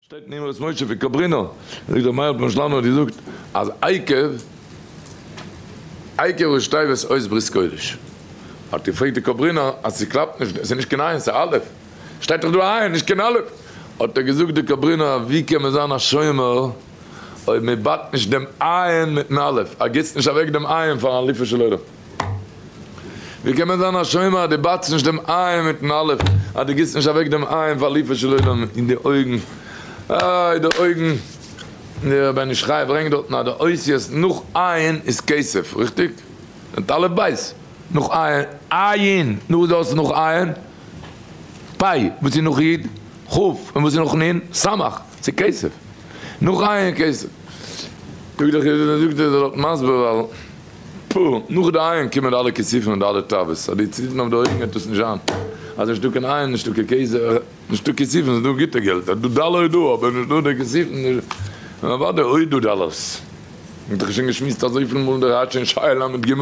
שטייט אין אמרות משה פון קאברינא, זאגט דער מהר א פון שלאניו האט געזאגט אז עיקר עיקר השתיוות אות ברית קודש, האט געפרעגט די קאברינא אז ס'קלאפט נישט, ס'איז נישט קיין עין ס'איז אלף, שטייט דאך דא עין נישט קיין אלף, האט ער געזאגט די קאברינא ווי קען מען זיין א שומר אויב מען באדט נישט דעם עין מיטן אלף, ער גיסט נישט אוועק דעם עין פארן אלופו של עולם. ווי קען מען זיין א שומר אז דו בייטסט נישט דעם עין מיטן אלף, אז דו גיסט נישט אוועק דעם עין פאר ליפא של עולם אין די אויגן, איי די אויגן, דער בן איש חי ברענגט דארטן אז די אותיות נאך עין איז כסף, ריכטיג? מיט אלף בית נאך עין, נו וואס איז דאס נאך עין? פ' וואס איז נאך י'? כ' און וואס איז נאך נ'? ס' ס'איז כסף, נאך עין איז כסף. זאגט דער חידו ש זאגט ער זאל דארט מסביר ווייל. פ, נאך די אייערן קומען די אלע כיסופים און די אלע תאוות, אז די ציטערן אויף די אויגן וועט עס נישט זיין, אז נישט דא קיין אייער, נישט דא קיין קעזע, נישט דא כיסופים, ס'איז דא גוטע געלט, אז דא דאלער איז דא, אבער נישט דא די כיסופים, נו אוודאי אויב איז דא דאלערס, האט דאך שוין געשמועסט אזויפיל מאל דער הייטש אין שייע ל ג,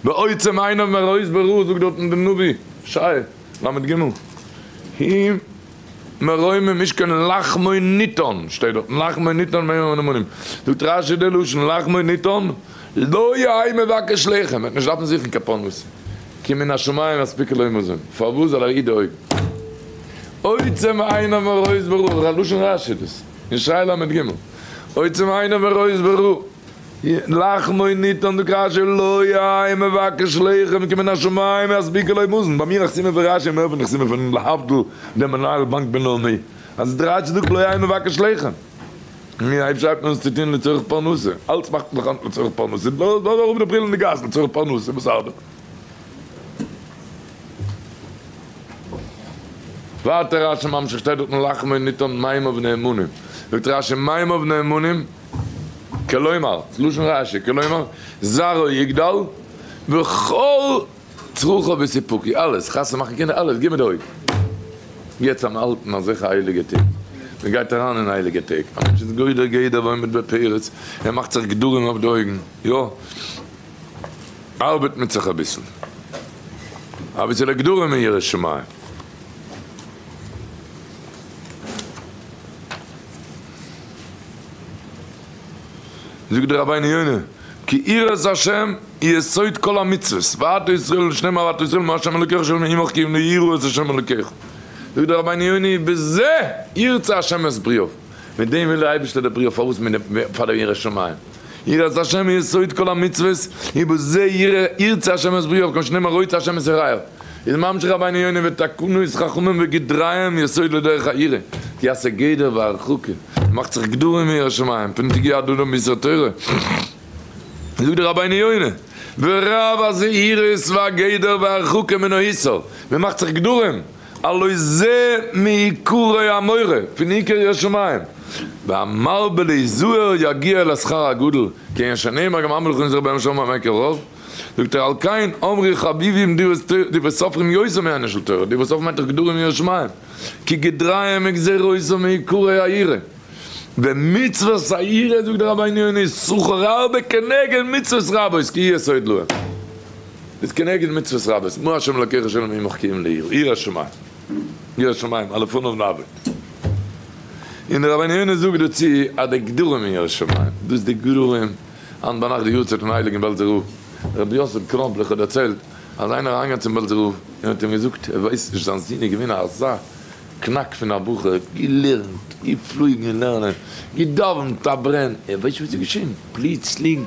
ועוצם עיניו מראית ברא זאגט דארטן די נביא, שייע ל ג, הי. מרומים נישט קיין לחמו ניתן, שטייט דארט לחמו ניתן מרומים און אמונים, זאגט רשי די לשון לחמו ניתן, לא יהי' מבקש לחם, וועט נישט דארפן זוכן קיין פרנסה, כי מן השמים אספיקה לו מזון, פארוואס זאל ער אידא אויב עוצם עיניו ורואה זברו, לשון רשי דאס, אין שריי לג, עוצם עיניו ורואה זברו. לאך מיר ניט אָן די קשיא, לא יהא מבקש לחם כמן השמים יספיקו לו מאזן, ביי מיר נחסימא פון רש י מער פון נחסימא פון להבדיל דער מנהל באנק בינלאומי, אז דער רש י זאגט לא יהא מבקש לחם, נו אויב שרייבט מען עס צו טון לצורך פרנסה, אלץ מאכט מען דאך היינט לצורך פרנסה, לאז אראפ די בריל אין די גאס לצורך פרנסה וואס ארבעט. ווייטער רש י ממשיך שטייט דארט אין לאך מיר ניט אָן מים אבני אמונים, זאגט רש י מים אבני אמונים, כלומר, לשון רש י, כלומר, זרעו יגדל, וכל צרכו וסיפוקו, אלעס, חתונה מאכן קינדער, אלעס, גיב מיר די הויט. יעצט אן אלטן אזעלכע הייליגע טעג, מען גייט אריין אין הייליגע טעג, א מענטש איז גודר גדר ועומד בפרץ, ער מאכט זיך גדרים אויף די אויגן, יא, ארבעט מען זיך אביסל, אביסעלע גדרים און יראת שמים. זאגט דער רבינו יונה, כי יראת השם היא יסוד כל המצוות, ואהבת ישראל ושנאמר אהבת ישראל מאת ה' אלוקיך אשר נעים עמך כי אם לא יראו את ה' אלוקיך. זאגט דער רבינו יונה, בזה ירצה ה' את בריאיו, מיט דעם וויל דער אייבערשטער די בריאה פארוואס מיר פאר די ירא שמים. יראת השם היא יסוד כל המצוות, ובזה ירצה השם את בריאיו, כמו שנאמר רוצה השם את יראיו. איז ממשיך רבינו יונה ותקנות חכמים וגדריהם יסוד לדרך היראה, כי עשה גדר והרחקה, און מאכט זיך גדרים און ירא שמים, פון תגיע עד אדם ביסוד תורה, זאגט דער רבינו יונה, ורב הזהירות והגדר והרחקה מן האיסור, מען מאכט זיך גדרים, הלא זה מעיקרי המורא, פון עיקר יראת שמים, והמרבה להיזהר יגיע אל השכר הגדול, כיון שנאמר גם המלך און זר בהם שמים עקר רוב, זאגט ער על כן אמרי חביבים די וואס סופרים יותר מענין של תורה, די וואס האבן היתר גדול אין יראת שמים, כי גדריהם מגזירות או מעיקרי היראה, ומצוות היראה זאגט דער רבינו יונה שכר הרבה כנגד מצוות רבות כי יסוד להם. איז כנגד מצוות רבות, מה ה' אלקיך אשר אני עמך קיים לעיל, ירא שמים, ירא שמים, א לפניו נאבד. און דער רבינו יונה זאגט דערצו אז די גדרים אין ירא שמים, דאס די גדרים, היינט ביינאכט די יארצייט פון הייליגן בעלזער רב, רבי יוסף קראמפלעך האט דערציילט אז איינער איז אריינגעגאנגען צום בעלזער רב און האט אים געזאגט ער ווייסט נישט זיין זון איז געווען אזא קנאק פון א בחור, געלערנט, געפלויגן לערנען, געדאווענט א ברען, ער ווייסט נישט וואס איז געשען, פלוצלינג.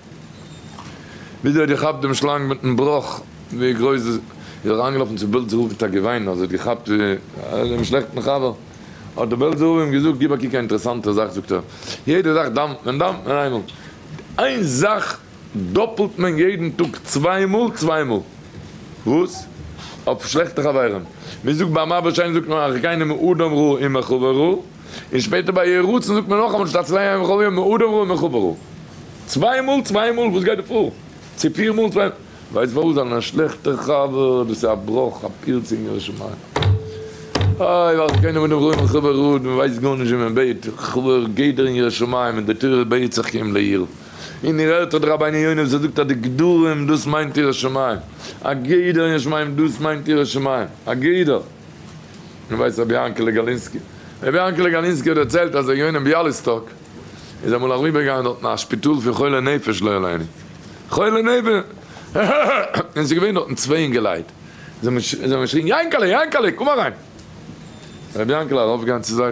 וויאזוי האט געכאפט דעם שלאנג מיטן בראך ווי גרויס איז אריינגעלאפן צו בעלזער רב מיט א געוויין אז ער האט געכאפט דעם שלעכטן חבר האט דער בעלזער רב אים געזאגט גיב א קוק א אינטערעסאנטע זאך זאגט ער יעדע זאך דאמפט מען דאמפט מען איינמאל איין זאך דאפלט מען יעדן טאג צוויי מאל צוויי מאל וואס? אויף שלעכטע חברים מ'זאגט ביי מאבער שיין זאגט מען אחרינו מאדם רע אין מחבר רע. און שפעטער ביי יהי רצון זאגט מען נאכאמאל נישט הצלחה אין וכל יום מאדם רואה מחוברו. צוויי מאל צוויי מאל וואס גייט דא פאר? צו פיר מאל צוויי מאל? ווייסט פארוואס? זיין א שלעכטער חבר דאס איז א בראך א פירצה אין ירא שמים. איי ווער האט קיינעם מאדם רואה מחוברו און מען ווייסט גארנישט ווי מען בעט כבוד גייט דער אין ירא שמים און די תורה בעט זיך כי אם ליראה און איר הערט אדער רבינו יונה וואס ער זאגט אז די גדרים דאס מיינט ירא שמים א גדר אין ירא שמים דאס מיינט ירא שמים א גדר און ווייסט רבי יענקעלע גאלינסקי? רבי יענקעלע גאלינסקי האט דערציילט אז ער יונה ביאליסטאק איז אמאל אריבערגעגאנגען דארטן א שפיטאל פון חולי נפש לא עלינו חולי נפ און ס'איז געווען דארטן צוויי אינגעלייט זיי האבן געשריגן יענקעלע יענקעלע קום אריין רבי יענקעלע ארויפגעגאנגען צו זיי.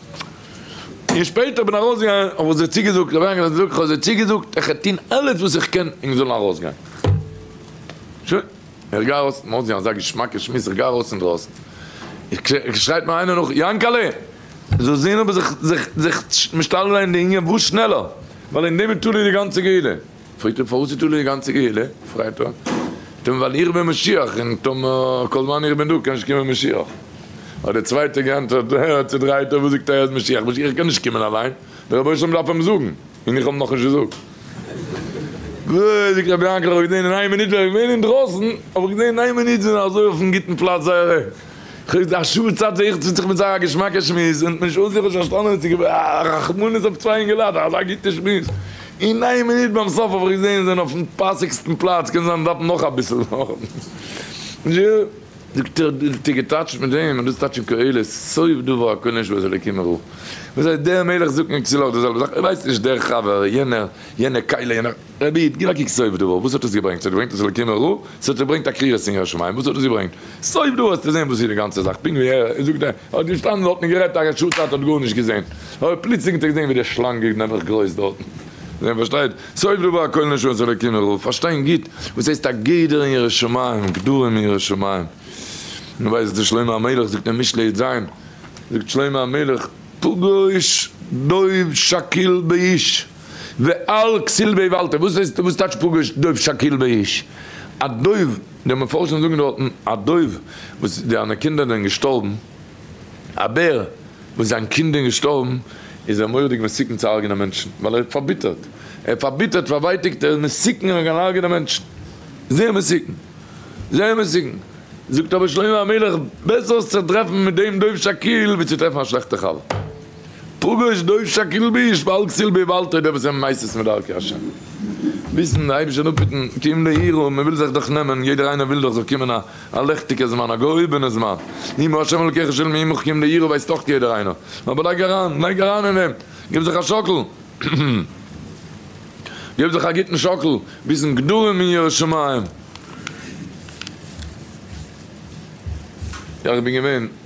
און שפעטער בין ארויסגעגאנגען האב איך זיי צוגעזאגט, רבי יענקעלע האט געזאגט, כ'האב זיי צוגעזאגט איך וועל טון אלעס וואס איך קען ענק זאלן ארויסגיין. שוין, איך גיי ארויס, מ'האט זיך אזא געשמאקע שמועס, איך גיי ארויס אינדרויסן, עס שרייט מיר איינער נאך, יענקעלע! זאלסט זען אבער זיך זיך זיך משתדל זיין די ענין וואס שנעלער, ווייל אין דעם איז תלוי די גאנצע גאולה. פרעגט ער פארוואס איז תלוי די גאנצע קהילה? פרעגט ער טאמער ווייל איך בין משיח און טאמער כל זמן איך בין דא קען נישט קומען משיח. האט דער צווייטער געענטפערט אהה צודרייטער וואס זאגט ער אז משיח משיח קען נישט קומען אליין דער רבונו של עולם דארף אים זאגן און איך האב אים נאכנישט געזאגט. גראד זאגט רבי יענקל איך האב געזעהן אין איין מינוט ווען איך בין געווען אינדרויסן האב איך געזעהן אין איין מינוט זענען אזוי אויפן גוטן פלאץ זייערע. כ'האב געזעהן א שעה צייט זיי איך זיך מיט זיי א געשמאקע שמועס און נישט אן זיך נישט פארשטאנען מיט זיי א רחמנות אויף צוויי אינגעלייט א אזא גוטע שמועס אין איין מינוט ביים סוף האב איך געזעהן זיי זענען אויפן פאסיגסטן פלאץ קען זיין זיי דארפן נאך אביסל זאגט ער דו האסט געטאטשט מיט דעם און דאס טאטשן קהלות סוף דבר הכל נשמע וואס אלוקים מראה וואס הייסט דער מלך זאגט מיר צו לאך די זעלבע זאך איך ווייס נישט דער חבר יענער יענע קהלה יענער. רבי איד, גיב א קוק סויפ דא, וואס האט עס געברענגט? עס האט געברענגט אז אלקים ער הוא, עס האט געברענגט א קרירת אין יש מאין, וואס האט עס געברענגט? סויפ דא וועסטו זען וואס איז די גאנצע זאך, פונקט ווי ער זאגט ער האט געשטאנען דארטן און גערעדט א ר' שאול צייט האט גארנישט געזען, אבער פלוצלינג האט ער געזען ווי די שלאנג איז נעבעך גרויס דארטן. איר פארשטייט? סויפ דא ביי הכל נשמות אלקים ער הוא, פארשטיין גוט וואס הייסט א גדר אין ירא שמים, גדרים אין ירא שמים. מען ווייסט דאס שלמה המלך זאגט אין משלי ז, זאגט שלמה המלך, פגוש דוב שקיל באיש. ועל כסיל בעי ואלתר, וואס הייסט וואס טייטש פגש דוב שקיל בעי איש? א דוב, די מפרשים זאגן דארטן א דוב וואס זיינע קינדער זענען געשטארבן, א בער וואס זיין קינד איז געשטארבן, איז ער מורא'דיג מסוכן צו הרג'נען מענטשן, ווייל ער איז פארביטערט, ער איז פארביטערט, פארווייטיגט, ער איז מסוכן ער קען הרג'נען מענטשן, זייער מסוכן, זייער מסוכן, זאגט אבער שלמה המלך, בעסער זיך צו טרעפן מיט דעם דוב שקיל ווי צו טרעפן א שלעכטע חבר. פגוש דובשא כלביש ואל תסיל באיוולתו די וואס זענען נייסעס מיט דרכי ה' מוזן די אייבישטער אפהיטן כי אם ליראו מען וויל זיך דאך נעמען יעדער איינער וויל דאך ס'זאל קומען א א לעכטיגע זמן א געהויבענע זמן אם ה' אלקיך שואל מעמך כי אם ליראו ווייסט דאך יעדער איינער אבער לייג אריין לייג אריין אין דעם גיב זיך א שאקל גיב זיך א גוטן שאקל ביזן גדרים אין ירא שמים. איך בין געווען.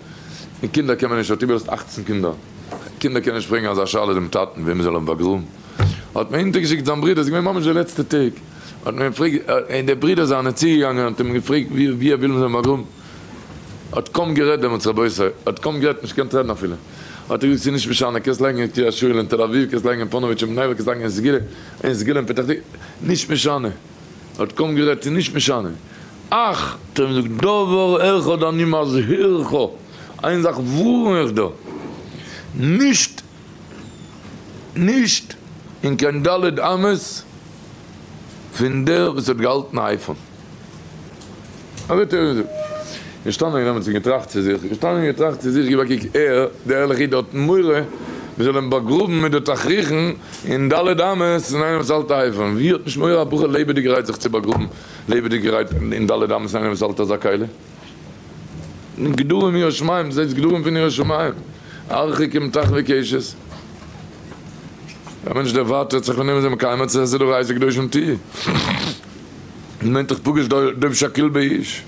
און קינדער קען מען נישט, האט איבערזעצט אַכצן קינדער, קינדער קען נישט פרעגן אזא שאלה דעם טאטן וועם מען זאל האבן באגראבן, האט מען אונטער געשיקט זיין ברודער, עס איז געווען ממש די לעצטע טעג, האט מען געפרעגט, און די ברודער זיינען צוגעגאנגען און האט אים געפרעגט ווי ווי ער וויל מען זאל אים באגראבן, האט קוים גערעדט דעמאלטס רבותי, האט קוים גערעדט נישט געקענט רעדן אפילו, האט ער געזאגט ס'איז נישט משנה, קענסט לייגן אין קרית יואל, אין תל אביב, קענסט לייגן אין פאנאוויטש, אין בני ברק, קענסט לייגן אין סגולה, אין סגולה אין פתח תקוה, נישט משנה, האט קוים גערעדט ס'איז נישט משנה. אך, טעם זאגט דבר אחד אני מזהירך, איין זאך ווארן איך דיר, נישט, נישט אין קיין ד' אמות פון דער וואס האט געהאלטן א אייפאון. אזוי טעם זאגט. געשטאנען און עמיצן געטראכט צו זיך, געשטאנען און געטראכט צו זיך, גיב א קוק, ער, דער ערליכער איד, האט מורא מען זאל אים באגראבן מיט די תכריכים אין ד' אמות פון איינער וואס האלט א אייפאון. ווי האט נישט מורא א בחור לעבעדיגערהייט זיך צו באגראבן לעבעדיגערהייט אין ד' אמות איינער וואס האלט אזא קהלה? גדרים ירא שמים, זעהטס גדרים פון ירא שמים, ארחיקים תחבי קשת, א מענטש דערווארטעט זיך פון אים איז ער מקיים מצות עס איז דא רייסע קדושים טיע, מען מיינט דאך פגש דוב שקיל באש,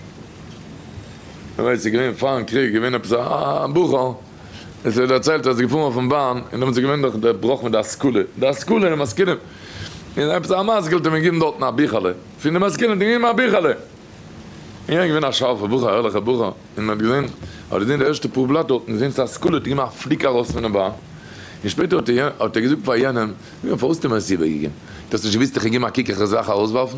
ער ווייסט ס'איז געווען פארן קריג געווען עפעס א בחור. עס ווערט דערציילט אז ער איז געפארן אויפן באן און דעמאלטס איז געווען דאך דער בראך מיט די השכלה, די השכלה און משכילים, און עפעס א משכיל האט אים געגעבן דארטן א ביכעלע, פון די משכילים האט ער געגעבן א ביכעלע, און ער איז געווען א שארפער בחור, א ערליכער בחור, און מען האט געזען, האט ער געזען די ערשטע פאר בלאט דארטן, געזען צו השכלה האט ער געגעבן א פליק ארויס פונעם באן, און שפעטער האט ער געזאגט פאר יענעם, פארוואס האסטו מיר עס איבערגעגעבן? דו האסט נישט געוואוסט איך וועל געבן א קוק איך וועל זיי אויך ארויסווארפן?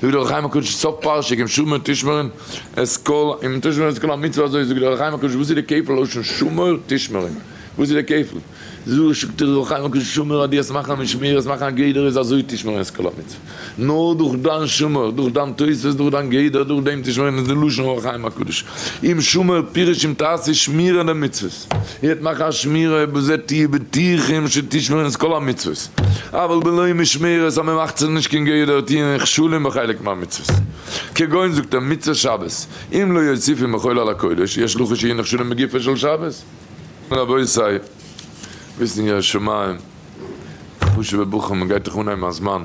זאגט דער אור החיים הקדוש סוף פרשה גמ' שמור תשמרין את כל אם תשמור את כל המצוה אזוי זאגט דער אור החיים הקדוש וואס איז די כפל לשון שמור תשמרין וואס איז די כפל זאגט דער אור החיים הקדוש שמור אז דו וועסט מאכן משמרת מאכן א גדר איז אזוי תשמרין את כל המצוה נאר דורך דיין שמור דורך דיין תוספות דורך דיין גדר דורך דעם תשמרין איז די לשון אור החיים הקדוש אם שמור פירוש אם תעשה שמירה למצוות געזאגט, איר וועט מאכן א שמירה אויב זעט איר בטוחים שתשמרון את כל המצוות, אבל בלא משמרת אז מען מאכט זיך נישט קיין גדר טיעון כשלין בחלק מהמצוות, כגון זאגט ער מצוות שבת, אם לא יוסיפין מחול על הקודש, יש לוחות שיהיו נכשלים בגופו של שבת. רבותי, וויסן ירא שמים, חשוב'ע בחורים, מען גייט דאך אנהייבן א זמן.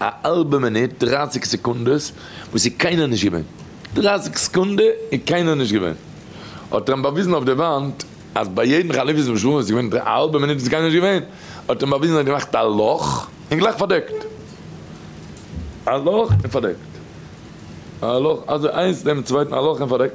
א האלבע מינוט, דרייסיג סעקונדעס, וואס איז קיינער נישט געווען. דרייסיג סעקונדע איז קיינער נישט געווען. האט ער אים באוויזן אויף די וואנט, אז ביי יעדן חליפות וואס שלמה איז געווען א האלבע מינוט איז קיינער נישט געווען. האט ער אים באוויזן ער האט געמאכט א לאך, און גלייך פארדעקט. א לאך און פארדעקט. א לאך אזוי איינס נעבן צווייטן א לאך און פארדעקט.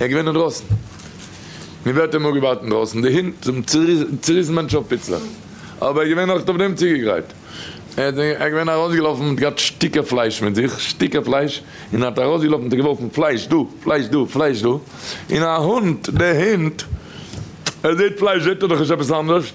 ער איז געווען אינדרויסן. מען ווערט אים אפגעווארט אינדרויסן. די הינט האבן צעריסן מענטשן אויף פיצלעך. אבער ער איז געווען אויך אויף דעם צוגעגרייט. ער איז געווען ארויסגעלאפן מיט געהאט שטיקער פלייש מיט זיך, שטיקער פלייש, און ער האט ארויסגעלאפן האט ער געווארפן פלייש דא, פלייש דא, פלייש דא, און א הונט, דער הינט, ער זעט פלייש זעט ער דאך נישט עפעס אנדערש.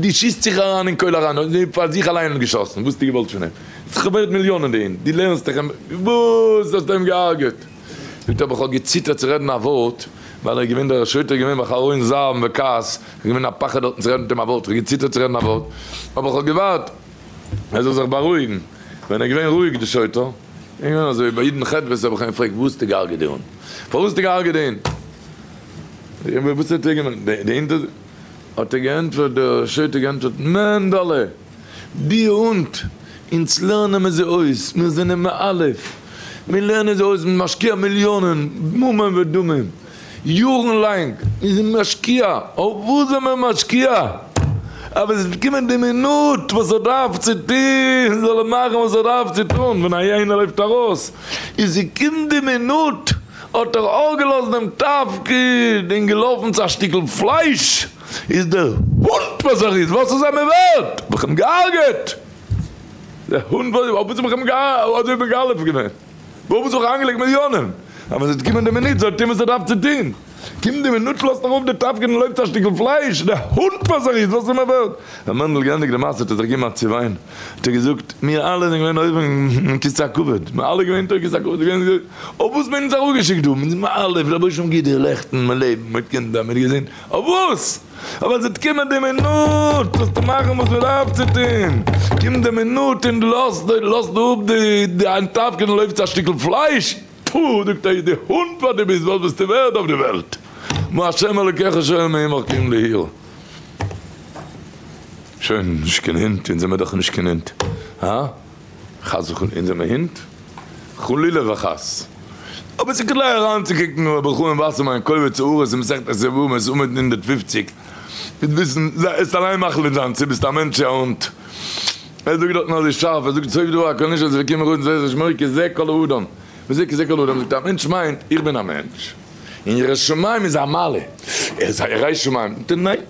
דו שיסט זיך אריין אין קויל אריין, און זיי פאר זיך אליין האט געשאסן, וואס האסטו געוואלט פון אים? ס'איז דאך ווערד מיליאנען די הונט, דו לערנסט דאך אים, וואס האסטו אים געהארגעט? זאגט ער, אבער כ'האב געציטערט צו רעדן א ווארט, ווייל ער איז געווען דער שוטה געווען בחרון זעם וכעס, כ'האב געווען א פחד דארטן צו רעדן מיט אים א ווארט, כ'האב געציטערט צו רעדן א ווארט, אבער כ'האב געווארט ער זאל זיך בארואיגן, ווען ער איז געווען רואיג די שוטה, איז געווען אזוי, ביי יעדן חטא וואס האב איך אים געפרעגט, וואס האסטו געהארגעט די הונט? פארוואס האסטו געהארגעט די הונט? וואס האט ער געמיינט? די הונט האט האט ער געענטפערט, דער שוטה האט געענטפערט, מענדעלע! די הונט! אונז לערנען מיר זיי אויס, מיר זענען מ א, מיר לערנען זיי אויס, מיר משקיע מיליאנען, ממון ודמים, יארן לאנג, מיר זענען משקיע, אויף וואס זענען מיר משקיע? אז ווען עס וועט קומען די מינוט וואס ער דארף צו טוהן, זאל ער מאכן וואס ער דארף צו טוהן, ווען א הייענע לויפט ארויס, און ס'קומט די מינוט, האט ער אויפגעלאזט דעם תפקיד און געלאפן צו א שטיקל פלייש, איז דער הונט וואס ער איז, וואס איז ער מיר ווערט? האב איך אים געהארגעט! דער הונט וואס איז מיר ווערט? האב איך אים געהארגעט! וואו האב איך זיך איינגעלייגט מיליאנען? אז ווען עס וועט קומען די מינוט זאל ער טון וואס ער דארף צו טון! קומט די מינוט לאזט ער אראפ די תפקיד און לויפט צו א שטיקל פלייש, דער הונט וואס ער איז, וואס איז ער מיר ווערט? ווען מענדל געענדיגט די מעשה האט ער זיך געמאכט צו וויין, האט ער געזאגט, מיר אלע זענען געווען אויבן אין כסא הכבוד, מיר אלע געווען אין כסא הכבוד, אויף וואס מען האט אונז אראפגעשיקט דא, מיר זענען אלע פון רבוש ע גידער לעכטן, מיר לעבן, מיר האט קינדער, מיר האט געזונט, אויף וואס? אבער עס וועט קומען די מינוט וועסטו טון וואס מען דארף צו טון, קומט די מינוט און לאזט לאזט אפ די אנטלאפקען און לויפט צו א שטיקל פלייש, טפו זאגט ער איז די הונט וואס דו ביסט וואס ביסטו ווערד אויף די וועלט, מה השם אלוקיך שואל מעמך קום לעיר. שוין, נישט קיין הונט, אונז זעמער דאך נישט קיין הונט, הא? חס וחלילה, אונז זעמער הונט? חלילה וחס! אבער ס'איז כדאי אריינצוקוקן אין רבי חיים וואסערמאן קובץ האורות אין מסכת עשרת יבמות עמוד נ הונדערט פֿופֿציק, מיט וויסן, זייסט אליין מחליט זיין צו ביסט א מענטש צו א הונט. ער זאגט דארטן אזוי שארף, ער זאגט סוף דבר הכל נשאר זיו וקמח אויז וזה שמו כזה כל האדם, וזה כזה כל האדם, זאגט ער א מענטש מיינט איך בין א מענטש, און ירא שמים איז א מעלה, ער איז א ירא שמים, זאגט ער ניין,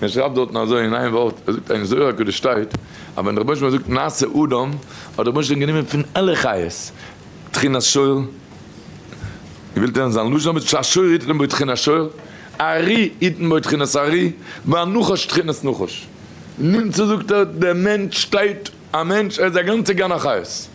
מען שרייבט דארטן אזוי אין איין ווארט, ער זאגט אין זוהר הקדוש שטייט אז ווען דער רבונו של עולם האט געזאגט נעשה אדם, האט דער רבונו של עולם גענומען פון אלע חיות תחינת שור, געוועלט ווערן זיין לשון האבן געזאגט שהשור יתן בו תחינת שור, ארי יתן בו תחינת ארי, והנחש תחינת נחש, נמצא זאגט ער דער מענטש שטייט. א מענטש, ער איז א גאנצע גן החיות.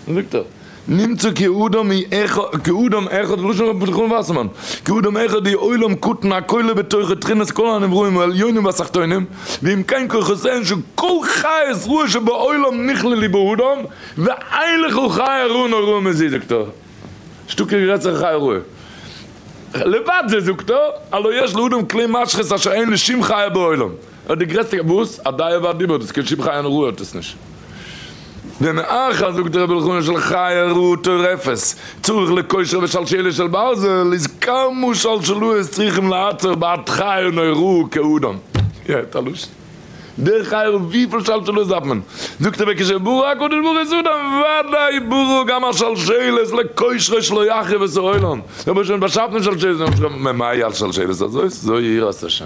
זאגט ער, נמצא כאדם אחד, כאדם אחד, בלשון רבי בן חנא וואסערמאן, כאדם אחד היא עולם קטן הכולל בתוכו תכונות כל הנבראים העליונים והתחתונים, ואם כן כוחותיהן של כל חיות רעות שבעולם נכללי באדם, ואין לך חיה רעה נוראה מזו זאגט ער, נישטא קיין גרעסערע חיה רעה. לבד זה זאגט ער, הלא יש לאדם כלי משחית אשר אין לשום חיה בעולם. אט די גרעסטע גבהות, א דיו והדיבור, דאס קען שום חיה נאר ראה האט עס נישט. ומאחר זאגט רבי אלחנן של חיה ראה טורפת, צריך לקושר ושלשלת של ברזל, איז כמה שלשלאות צריכים לעצור בעד חיה נאר ראה כאדם. יעצט א לשון. דער חיה ראה וויפיל שלשלאות דארף מען? זאגט רבי עקישע ברא הקדוש ברוך הוא איז אדם ודאי ברא גם א שלשלת לקושרו שלא יחריב את העולם. רבונו של עולם האט באשאפן שלשלת, ממאי א שלשלת הזאת? זוי יראת השם.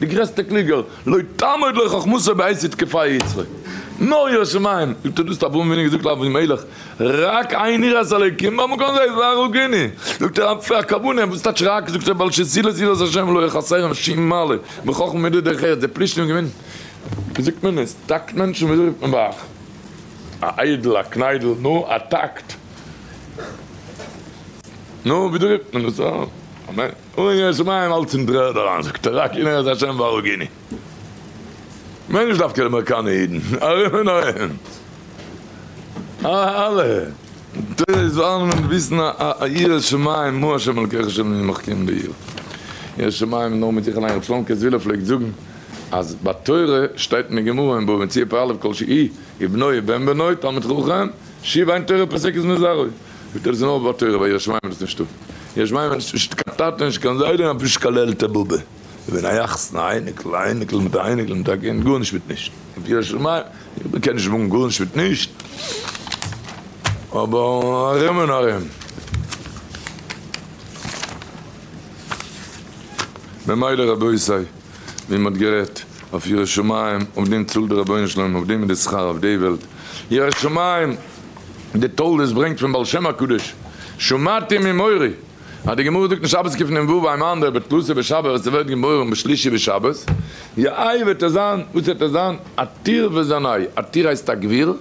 די גרעסטע קלוגער, לא תעמוד לו חכמתו בעת יתקפה יצרו. נאר ירא שמים, זאגט ער דאס האט אברהם אבינו געזאגט לאבי מלך, רק עיין יראת אלוקים במקום זה והרוגני, זאגט ער אפי' א כוונה, וואס טייטש רק, זאגט ער ווייל שזילות יראת השם לא יחסרן שום מעלה מחכם ומידות דרך ארץ, די פלישתים געווען, ווי זאגט מען עס, טאקט מענטשן, ווי אזוי זאגט מען ביי אייך, א איידל, א קניידל, נו, א טאקט, נו, ווי זאגט מען עס, אמן. און יעצט איז מיין האלץ אין טרער אריין, זאגט ער רק אין ארץ השם והרוגני. כ'מיין נישט דווקא די אמעריקאנע אידן, ארום און ארום. אלע תורה זאלן מען וויסן א ירא שמים מה השם אלקיך אשר אני עמך כן בעיר. ירא שמים איז נאר מיט זיך אליין, ר' שלום קעזווילער פלעגט זאגן אז ביי תורה שטייט אין די גמרא אין בבא מציעא פר' א' כל שהי' ובנו ובן בנו תלמיד חכם שיב עיין תורה פסק איז מזרעו. וועט ער זיין אויף באטורא ווייל יש מאין איז נישטא. יש מאין מיינט נישט קיין טאטע נישט קיין זיידע און אפילו נישט קיין לעלטע באבע. איך בין א יחסן א אייניקל א אייניקל מיט א אייניקל מיט א קינד גארנישט מיט נישט. אויף יש מאין איך קען נישט מאגן גארנישט מיט נישט אבער ארום און ארום. ממילא רבותי ווי מען האט גערעדט. אויף ירא שמים, אויף דעם צאלט דער רבונו של עולם, אויף דעם איז די שכר אויף די וועלט, ירא שמים, די תולדות ברענגט פון בעל שם הקדוש, שמעתי ממורי, אז די גמרא זאגט אין שבת קפ נ וואו איימאן דער בתלוסי בשבת ווען ס'ווערט געבוירן בשלישי בשבת, יאיי וועט ער זיין, וואס וועט ער זיין, א תיר וזנאי, א תיר הייסט א גביר,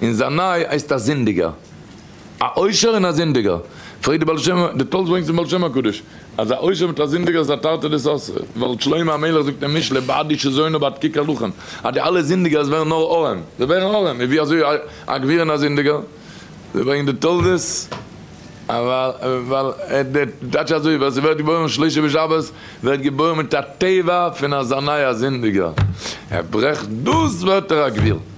און זנאי הייסט א זינדיגער. א עושר און א זינדיגער? פרעגט די בעל שם א, די תולדות ברענגט אין בעל שם הקדוש אז א עושר מיט א זינדיגער איז א תרתי דסתרי, ווייל שלמה המלך זאגט אין משלי בעדי שזונו בעד קי קלחן אז די אלע זינדיגערס ווערן נאר ארעם, זיי ווערן ארעם, און ווי אזוי א גביר און א זינדיגער? ברענגט די תולדות אז ווייל די טייטש אזוי ווער ס'ווערט געבוירן אום שלשה בשבת ווערט געבוירן מיט א טבע פון א זנאי א זינדיגער, ער ברעכט דאס ווערט ער א גביר.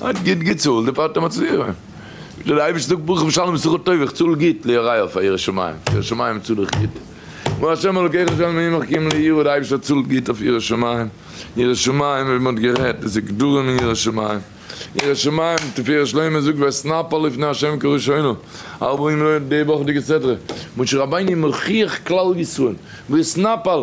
האט גוט געצאלט די פאטער מצליח זיין, וויאזוי די אייבערשטער זאגט ברוך בשלום בשכר טוב איך צאל גוט ליוראיו פאר ירא שמים, ירא שמים צאל איך גוט, כמו ה' אלוקיך אשר מעמך כי אם לירא די אייבערשטער צאלט גוט אויף ירא שמים, ירא שמים ווי מען האט גערעדט דאס איז גדרים אין ירא שמים, ירא שמים תפארת שלמה זאגט ואתנפל לפני ה' כראשונה ארבעים לילה די וואכעדיגע סדרה משה רבינו מוכיח כלל ישראל ואתנפל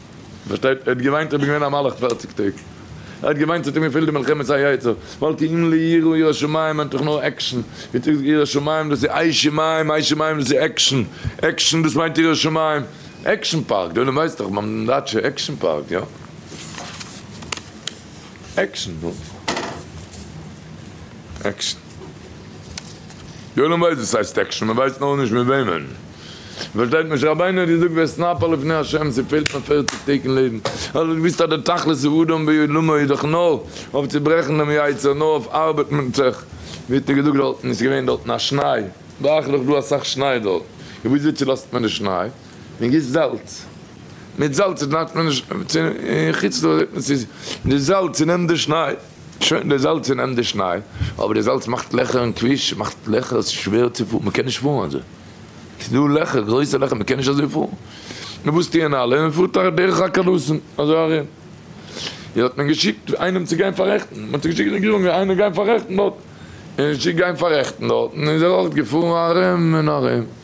פארשטייט? ער האט געוויינט, ער איז געווען א מלאך פערציג טעג. ער האט געוויינט, ס'האט אים געפעלט די מלחמת היצר, ווייל כי אם לי יראה ירא שמים מיינט דאך נאר עקשן. ווי צו זאגן ירא שמים דאס איז איי שמים, איי שמים דאס איז עקשן. עקשן דאס מיינט ירא שמים. עקשן פארק, דער עולם ווייסט דאך ביים דייטשע עקשן פארק, יא? עקשן, נו. עקשן. די עולם ווייסט וואס הייסט עקשן, מען ווייסט נאר נישט מיט וועמען. מען פארשטייט משה רבינו האט געזאגט ואתנפל לפני ה' ס'פעלט נאר פערציג טעג אין לעבן, ער האט דאך געוואוסט אז די תכלית האדם בעולמו איז דאך נאר אויף צו ברעכן דעם יצר, נאר אויף ארבעט מיט זיך, ווי האט ער געזאגט דארטן איז געווען דארטן א שניי, דאך איז דא אסאך שניי דארט, און וויאזוי צולאזט מען די שניי, מען גיסט זאלץ, מיט זאלץ צונעמט מען די שניי, די זאלץ צונעמט די שניי. שוין די זאלץ איז נעבן די שניי, אבער די זאלץ מאכט לעכער אין כביש, מאכט לעכער, ס'איז שווער צו פארן, מ'קען נישט פארן אזוי, ס'איז דא לעכער, גרויסע לעכער, מ'קען נישט אזוי פארן, נו וואס טוען אלע, מ'פארט ארום דורך א קאלוסן אזוי ארום, און האט מען געשיקט איינעם צו גיין פאררעכטן, מען האט געשיקט די רעגירונג איינער גיין פאררעכטן דארט, און ער איז געשיקט גיין פאררעכטן דארט, און איז ער אויך געפארן ארום און ארום.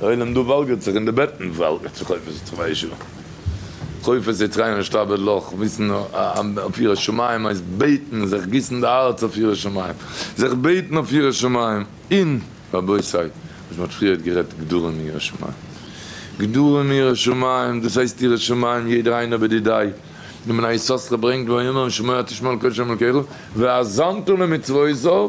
דער עולם דא וואלגערט זיך און די בעטן וואלגערט זיך חופש יצחק מהישיבה חופש יצחק און נישט אבד לך וויסן אויף יראת שמים הייסט בעטן זיך גיסן די הארץ אויף יראת שמים זיך בעטן אויף יראת שמים און רבותי וואס מ'האט פריערט גערעדט גדרים און יראת שמים גדרים און יראת שמים דאס הייסט יראת שמים יעדער איינער בדידי דמנה יששכר ברענגט והיאמר שמוע את ישמעאל קדשם אלקיך ואזנת למצוותיו.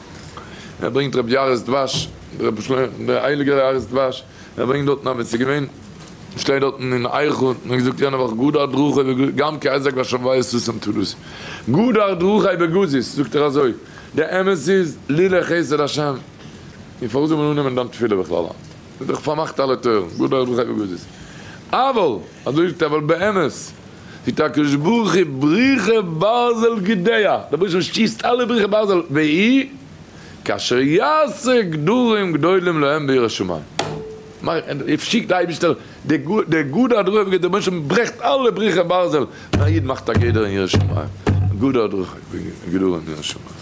ער ברענגט רבי יער'ס דבש, רבי שלמה, דער הייליגער יער'ס דבש, ער ברענגט דארטן אז ווען ס'איז געווען, שטייט דארטן אין אייכלער, מ'האט געזאגט יענע וואך גדר דרכי בגז, גם כי אזעק ואשמוואי סוסים טלוסים, גדר דרכי בגזיז, זאגט ער אזוי, די אמת איז, לולא חסד השם, און פארוואס זאל מען אננעמען דיין תפילה בכלל היינט? ס'איז דאך פארמאכט אלע טויערן, גדר דרכי בגזיז, אבל. אזוי איז טבעל באמת, טוט הקדוש ברוך הוא בריחה ברזל גדיה, דער באשעפער שיסט אלע בריחה ברזל, והי' כאשר יעשה גדרים גדולים להם בירא שמים, שיקט דער אייבערשטער די גדר הדרכה, דער באשעפער ברעכט אלע בריחה ברזל, און א איד מאכט א גדר אין ירא שמים, גדר הדרכה, גדרים אין ירא שמים.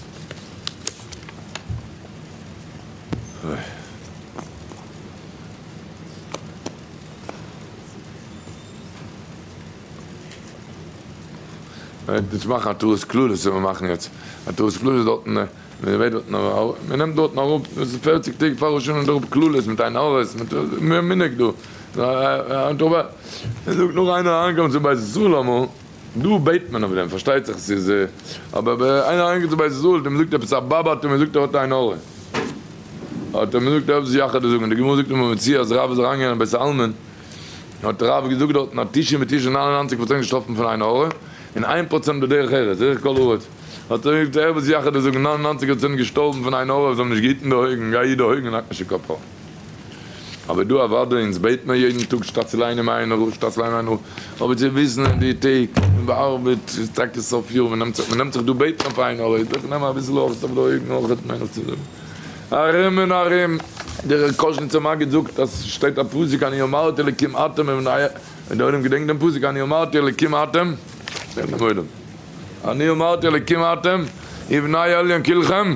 מ'וועט יעצט מאכן א טעות כללית וועט מען מאכן יעצט א טעות כללית דארטן ווען מ'וועט דארטן אראפ מ'נעמט דארטן אראפ דאס איז פערציג טעג פאר ראש השנה נעמט אראפ כללית מיט עין הרע'ס מיט מנהג דא. מ'זאגט נאר איינער אהן קומען צו בית ישראל אמאל. דא בעט מען אויף דעם, פארשטייט זיך ס'איז אבער ווען איינער איז אריינגעקומען צו בית ישראל און מ'זאגט עפעס א באבע האט ער מ'זאגט ער האט עין הרע האט ער מ'זאגט ער האט עפעס יחד זאגן די גמרא זאגט אין בבא מציעא אז רב איז אריינגעגאנגען אין בית העלמין האט רב געזאגט דארטן אז תשעים ותשעה נײַן און נײַנציק פראצענט געשטארבן פון עין הרע און איין פראצענט בדרך ארץ דרך כל הארץ האט ער מ'זאגט ער האט עפעס יחד זאגן נײַן און נײַנציק פראצענט געשטארבן פון עין הרע זיי האבן נישט געהיטן די אויגן גיי היט די אויגן און האק נישט אין קאפ אריין. אבער דא אוודאי אונז בעט מען יעדן טאג שטאט צו ליינען מהר א, שטאט צו ליינען מהר א, אבער צו וויסן אין די טעג מען בארבעט עס איז טאקע סוף יאר מען נעמט זיך מען נעמט זיך דא בעטן אויף איין ארעט וועט נעמען אביסל אויך סוף דא אויבן אויך האט מען נאך צו זאגן ארום און ארום, דער קאזשניצער מגיד זאגט אז ס'שטייט א פסוק אני אמרתי אלקים אתם און דער עולם געדענקט דעם פסוק אני אמרתי אלקים אתם זאגט דעם עולם אני אמרתי אלקים אתם ובני עליון כלכם.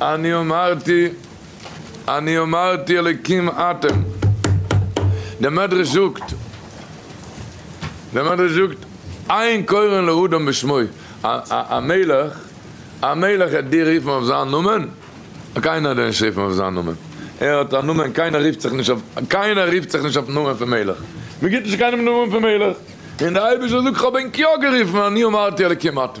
אני אמרתי אני אמרתי אלקים אתם, דער מדרש זאגט, דער מדרש זאגט, אין קורין לאדם בשמו, א א מלך, א מלך עט דיר רופן אויף זיין נאמען? קיינער עט דיר נישט רופן אויף זיין נאמען, ער האט א נאמען, קיינער רופט זיך נישט אויף, קיינער רופט זיך נישט אויפן נאמען פון מלך, מען גיט נישט קיינעם נאמען פון מלך, און דער אייבערשטער זאגט כ'האב אים קיו גערופן אני אמרתי אלקים אתם.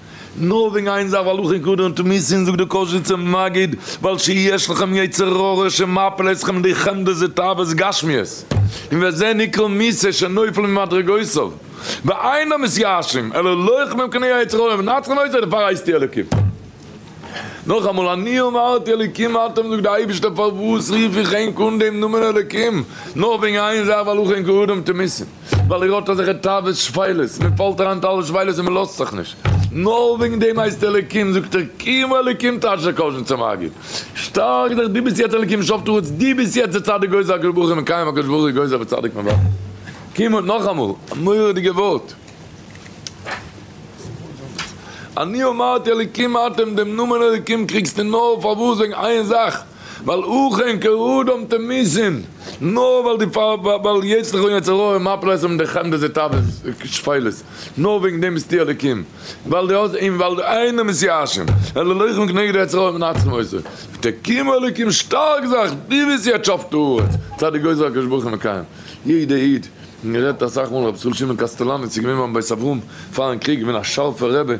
נאר וועגן איין זאך ווייל הלכות כדור און טומאת זין זאגט דער קאזשיצער מגיד ועל שי יש לכם יצר הרע שמפיל אתכם די חמדה זה תאוות גשמיות און וזה נקרא מיתה שנופל ממדרגותיו ואינם מתייאשים אלא לוחמים כנגד היצר הרע ומנצחין אותו דערפאר הייסט איר אלוקים. נאכאמאל, אני אמרתי אלקים אתם זאגט דער אייבערשטער פארוואס רוף איך ענק אן דעם נאמען אלקים? נאר וועגן איין זאך ווייל אויך ענק אדם תמיסין, ווייל ער האט אזעלכע תאוות שפלות, מען פאלט אריין אין אלע שפלות און מען לאזט זיך נישט, נאר וועגן דעם הייסט אלקים, זאגט ער קים אלקים תשא קדשן צום מגיד, שטארק זיך דו ביסט יעצט אלקים שופט הארץ, דו ביסט יעצט דער צדיק גוזר הקדוש ברוך הוא מקיים הקדוש ברוך הוא גוזר וצדיק מבטל, קים נאכאמאל, א מורא'דיגע ווארט. אני אמרתי אלקים אתם דעם נאמען אלקים קריגסטו נאר פארוואס וועגן איין זאך ווייל אכן כרדם תמיסין נאר ווייל די ווייל יצר'ך און יצר הרע מפיל אייך און די חמדה די תאוות שפלות נאר וועגן דעם ביסטו אלקים ווייל די האסט און ווייל איינער מוז יא האשעם אלא לוחם כנגד היצר הרע מנצחים אותו ותקימו אלקים שטארק זיך די וועסט יעצט שאפן תרועות צייט די גוזר הקדוש ברוך הוא מקיים יעדע איד. און גערעדט אסאך מאל, רבי ישראל שמעון קאסטעלאניץ איז געווען ביים בית אברהם פארן קריג, געווען א שארפער רבי,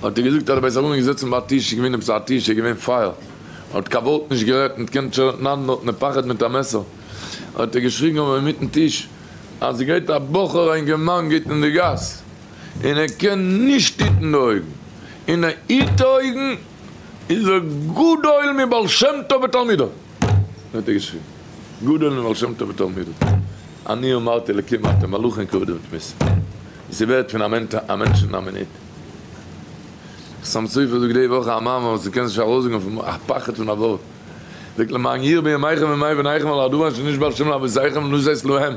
האט ער געזאגט אז דער בית אברהם איז געזעצן ביי א טיש, איז געווען עפעס א טיש, איז געווען פייער, האט קיין ווארט נישט גערעדט, ניט געקענט שרנן, נאר האט נעפאכעט מיט א מעסער, האט ער געשריגן אויף אינמיטן טיש, אז עס גייט א בחור א אינגערמאן גייט אין די גאס, און ער קען נישט היטן די אויגן, און ער היט די אויגן, איז ער גדול מבעל שם טוב ותלמידיו. האט ער געשריבן, גדול מבעל שם טוב ותלמידיו, אני אמרתי אלקים אתם מלאכים כבדים ותמיסים, ווי ס'ווערט פון א מענטש אין א מינוט. חתם סופר זאגט די וואך א מאמר וואס מ'קען זיך נישט ארויסזאגן פון א פחד פון א ווארט, ער זאגט למען יאיר בימיכם וימי בניכם על ארדואן שאיש בעל שם לאבותיכם ולא זז להם,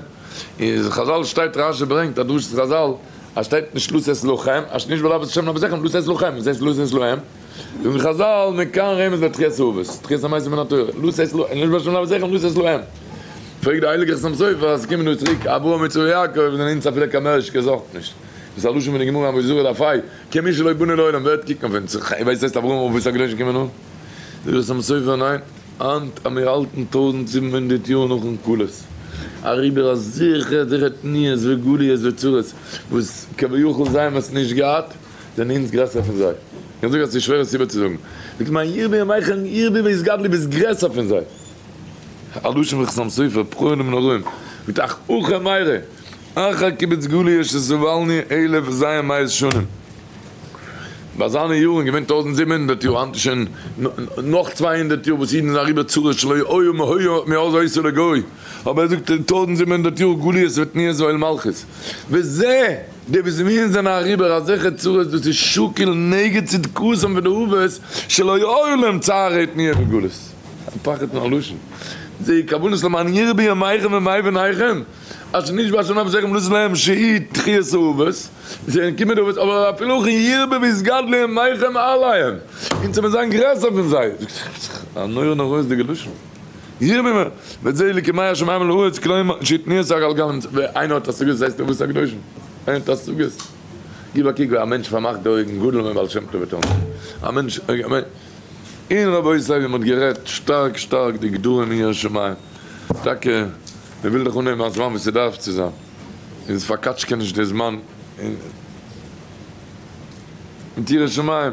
אין חזל שטייט רש י ברענגט א דרשת חזל אז שטייט נישט לא זז לכם, אז שאיש בעל אבות שם לאבותיכם ולא זז לכם, וואס הייסט לא זז להם? זאגן חזל, מכאן רמז לתחיית האבות, תחיית המתים מן התורה, לא שש להם, לא ישבש שם לאבותיכם, לא שש להם. פרעגט דער הייליגער חתם סופר, אז עס קומען דא צוריק אברהם יצחק יעקב, זענען אונז אפילו קיין מערש געזארגט נישט. דאס איז א לשון פון די גמרא אין מסורה דף ה, כ מי שלא בונה לעולם, ווער וועט קוקן אויף אונז, אויב עס הייסט אברהם אבות הקדושים קומען אן? זאגט דער חתם סופר, ניין, היינט אז מיר האלטן טויזנט זיבן הונדערט יאר נאכן גלות, אריבער א זיכער זיכער תניעות וגליות וצרות וואס כביכול זיי האבן עס נישט געהאט, זענען אונז גרעסער פון זיי? איך זאג אז עס איז שווער עס איבערצוזאגן. זאגט מיין ירבי ימיך און ירבי בית גדלי' דו ביסט גרעסער פון זיי. א לשון פון חתם סופר, פרעהן און מנורין, מיט אח אוחה מאירה, אחר קיבוץ גליה שסבלני אלף וזיין מאות שנים. ביי זיינע יארן איז געווען טויזנט זיבן הונדערט יאר, היינט איז שוין נאך צוויי הונדערט יאר וואס אידן זענען אריבער צרות שלא היה מהיה מאז היותו לגוי, אבער ער זאגט אין טויזנט זיבן הונדערט יאר גליות וועט נהיה זו אל מלכות. וזה! די וואס מיר זענען אריבער אזעלכע צרות דאס איז שקר נגד צדקתם ודאבות שלא יאורו להם צער עת נהיה בגלות, א פחד פון א לשון, זעה כוונות למען יראה בימיכם ומאי בניכם, אשר נשבע ה' נפשכם לעשות להם שהי' תחיית אובות, זעהן קומען די אובות, אבער אפילו אויך ירבה וישגד לימיכם עליהם, אונז זאל מען זיין גרעסער פון זיי, א נורא נוראות דיגע לשון. ירממה, ואת זה אלוקי מי השמים אל הארץ כלומר שיתני את הגל גל אמצע ווען איינער האט השגות ווייסט ער וואס איז הקדושים איינער האט השגות גיב א קוק ווי א מענטש פארמאכט די אויגן גדול הוא מבעל שם טוב ותורה א מענטש אין רבותי ווי מען האט גערעדט שטארק שטארק די גדרים אין ירא שמים טאקע מען וויל דאך אנהייבן א זמן ווי ס'דארף צו זיין און ס'פארקאטשקעט נישט די זמן און מיט ירא שמים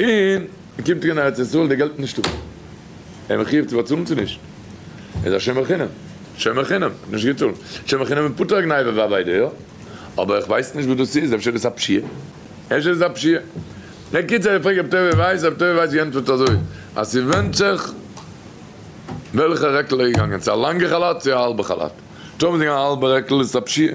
און מען קומט אהן ארץ ישראל די געלט איז נישטא, איז מען חיוב צו באצאלן צו נישט? איז א שומר חינם, שומר חינם, מען האט נישט געצאלט, שומר חינם איז פטור א גניבה ווי א וויידע, יא? אבער איך ווייס נישט וואס דאס איז, אפשר איז עס א פשיעה? אפשר איז עס א פשיעה? בקיצור איך פרעג רבי טובי' ווייס, רבי טובי' ווייס גענטפערט אזוי, אז ס'ווענדט זיך וועלכע רעקל ער איז געגאנגען, צו א לאנגע חאלאט צו א האלבע חאלאט, טאמער ס'איז געווען א האלבע רעקל איז עס א פשיעה,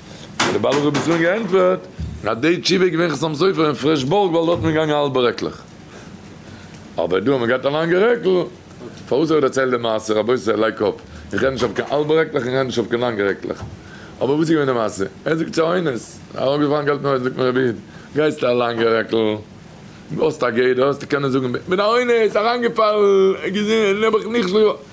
האט דער בעל אגרות בצלם געענטפערט אז די תשובה איז געווען חתם סופר אין פרעשבורג ווייל דארט איז מען געגאנגען האלבע רעקלעך אבער דא האט מען געהאט א לאנגע רעקל, פארוואס איך דערצייל די מעשה רבותי לייק אפ, איך רעד נישט אויף קיין האלבע רעקלעך איך רעד נישט אויף קיין לאנגע רעקלעך אבער וואס איז געווען די מעשה ער זאגט צו איינער עס איז אראפגעפאלן געלט אין הויז זאגט מיר רבי איד גייסטו א לאנגע רעקל האסט א גדר האסטו קענען זאגן בין א אונס אריינגעפאלן געזען נעבעך נכשל.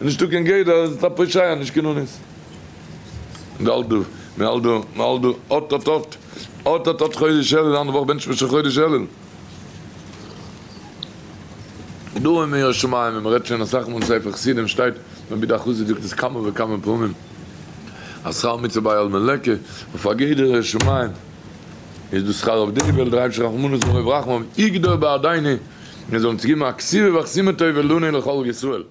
איז נישטא קיין גדר, איז עס א פושעי א נישט קיין אונס. מ'האלט דא, מ'האלט דא, מ'האלט דא, אט אט אט, אט אט אט חודש אלול, אנדערע וואך בענטשט מען שוין חודש אלול. דא אין מאה שערים ווי מ'רעדט שוין אסאך מאל אין ספר חסידים שטייט, רבי דוד חסיד זאגט עס כמה וכמה פעמים, אז שכר המצוה ביי אלמן לקה, אויף א גדר ירא שמים, איז דאס שכר אויף די וועלט, דער אייבערשטער רחמנות מרוב רחמיו יגדור בעדינו, מיר זאלן צו געבן א כסירה ואכסימא טובה לנו לכל ישראל.